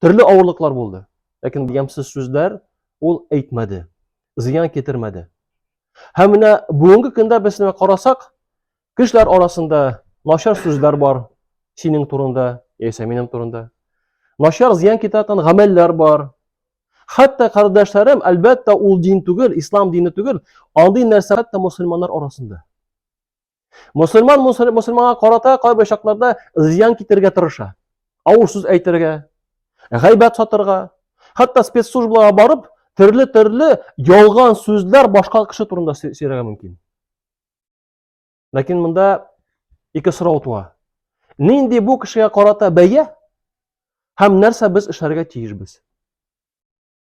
Төрле авырлыклар булды. Ләкин ямьсез сүзләр ул әйтмәде, зыян китермәде. Һәм менә бүгенге көндә без менә карасак, кешеләр арасында начар сүзләр бар синең турында, яисә минем турында. Начар зыян китерәтен гамәлләр бар. Хәтта кардәшләрем, әлбәттә, ул дин түгел, ислам дине түгел, андый нәрсә хәтта мусульманнар арасында. Мусульман мусульманга карата кайбер чакларда зыян китерергә тырыша. Авыр сүз әйтергә, гайбәт сатырга, хәтта спецслужбаларга барып, төрле-төрле ялган сүзләр башка кеше турында сөйләргә мөмкин. Ләкин монда ике сорау туа. Нинди бу кешегә карата бәя һәм нәрсә без эшләргә тиешбез?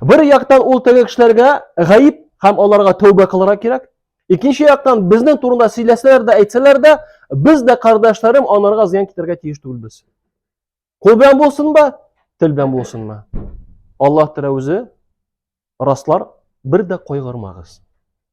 Бер яктан ул теге кешеләргә гаип һәм аларга тәүбә кылырга кирәк. Икенче яктан безнең турында сөйләсәләр дә, әйтсәләр дә, без дә кардәшләрем анарга зыян китергә тиеш түгелбез. Кул белән булсынмы, тел белән булсынмы? Аллаһ Тәгалә үзе раслар, бер дә кайгырмагыз.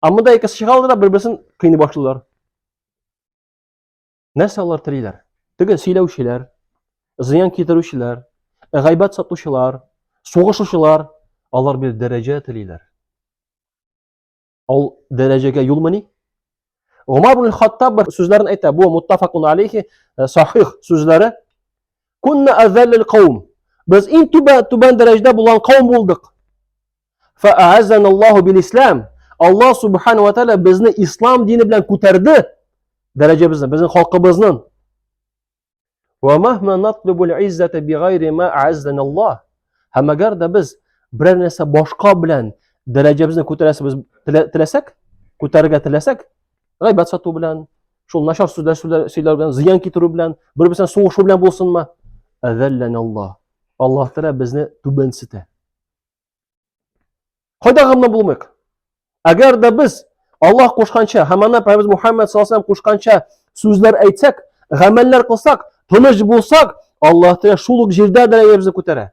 Амында мында икесе чыга да бер-берсен кыйный башлыйлар. Нәрсә алар телиләр? Теге сөйләүчеләр, зыян китерүчеләр, гайбәт сатучылар, сугышучылар, алар бер дәрәҗә телиләр. Ул дәрәҗәгә юл мени? Умар ибн Хаттаб бер сүзләрен әйтә, бу муттафакун алейхи э, сахих сүзләре. Кунна азалл каум. Без иң түбән дәрәҗәдә булган каум булдык. Фаазаналлаху бил ислам. Аллаһ субхану ва тааля безне ислам дине белән күтәрде. Дәрәҗәбезне, безнең халкыбызның. Ва махма натлубул иззата бигайри ма аззаналлаһ. Һәм әгәр дә без берәр нәрсә башка белән дәрәҗәбезне күтәрәсебез теләсәк, күтәрергә теләсәк, гайбәт сату белән, шул начар сүзләр сөйләр белән, зыян китерү белән, бер-берсен сугышу белән булсынмы? Аззаналлаһ. Аллаһ Тәгалә безне түбәнсетә. Кайда гамлы булмыйк? Әгәр дә без Аллаһ кушканча, һәм ана Пәйгамбер Мухаммад саллаллаһу алейһи кушканча сүзләр әйтсәк, гамәлләр кылсак, тыныч булсак, Аллаһ Тәгалә шул ук җирдә дәрәҗәбезне күтәрә.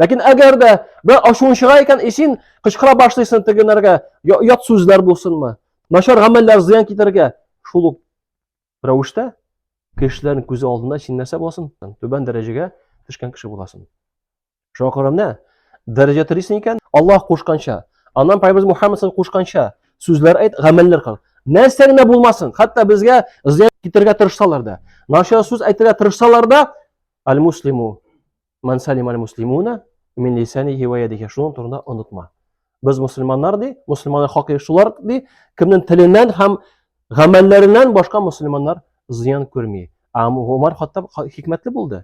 Ләкин әгәр дә бер ашуын чыга икән, исен кычкыра башлыйсың тегенәргә, ят сүзләр булсынмы, начар гамәлләр зыян китергә, шул ук рәвештә кешеләрнең күзе алдында син нәрсә буласың? Түбән дәрәҗәгә төшкән кеше буласың. Шуңа күрә менә дәрәҗә телисең икән, Аллаһ кушканча, аннан Пайгамбарыбыз Мухаммад саллаллаху кушканча сүзләр әйт, гамәлләр кыл. Нәрсә генә булмасын, хәтта безгә зыян китерергә тырышсалар да, начар сүз әйтергә тырышсалар да, аль-муслиму ман салим аль-муслимуна мин лисанихи ва ядихи. Шуның турында онытма. Без мусульманнар ди, мусульманнар хакы шулар ди, кемнең теленнән һәм гамәлләреннән башка мусульманнар зыян күрми. Ә Умар Хаттаб хикмәтле булды.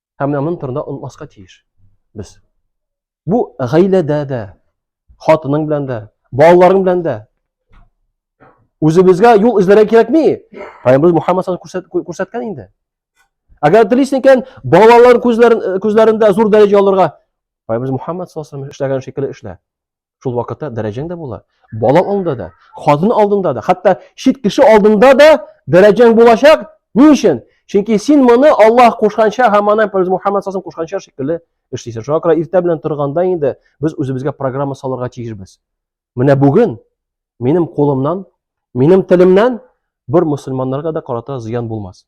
Һәм менә моның турында онмаска тиеш без. Бу гаиләдә дә, хатының белән дә, балаларың белән дә. Үзебезгә юл эзләргә кирәкми. Пәйгамбер Мухаммад күрсәткән күрсәт, инде. Әгәр телисең икән, балалар күзләрен күзләрендә зур дәрәҗә алырга, Пәйгамбер Мухаммад саллаллаһу алейһи ва эшләгән шикелле эшлә. Шул вакытта дәрәҗәң дә була. Бала алдында да, хатын алдында да, хәтта чит кеше алдында да дәрәҗәң булачак. Ни өчен? Чөнки син моны Аллаһ кушканча һәм аны Пәйгамбәр Мухаммад саллаллаху кушканча шикелле эшлисең. Шуңа күрә иртә белән торганда инде без үзебезгә программа салырга тиешбез. Менә бүген Минем кулымнан, минем телемнән бер мусульманнарга да карата зыян булмас.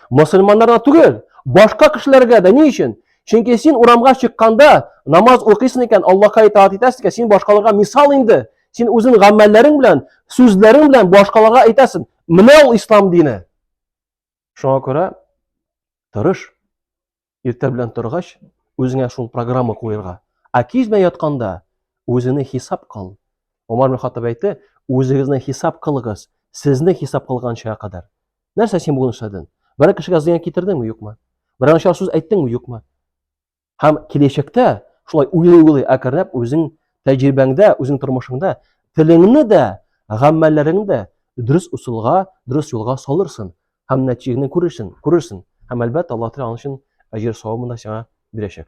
Мусульманнарга түгел, башка кешеләргә дә ни өчен? Чөнки син урамга чыкканда намаз укыйсың икән, Аллаһка итаат итәсең икән, син башкаларга мисал инде. Син үзең гамәлләрең белән, сүзләрең белән башкаларга әйтәсең. Менә ул ислам дине. Шуңа күрә тырыш. Иртә белән торгач, үзеңә шул программа куерга. Ә кич белән ятканда үзеңне хисап кыл. Умар ибн Хаттаб әйтте, үзегезне хисап кылыгыз, сезне хисап кылганчыга кадәр. Нәрсә син бүген эшләдең? Берәр кешегә зыян китердеңме, юкмы? Берәр начар сүз әйттеңме, юкмы? Һәм киләчәктә шулай уйлый-уйлый әкренләп үзең тәҗрибәңдә, үзең тормышыңда телеңне дә, гамәлләреңне дә дөрес усулга, дөрес юлга салырсың. һәм нәтиҗәне күрерсең, күрерсең. Һәм әлбәттә, Аллаһ Тәгалә аның өчен әҗер савабын да сиңа бирәчәк.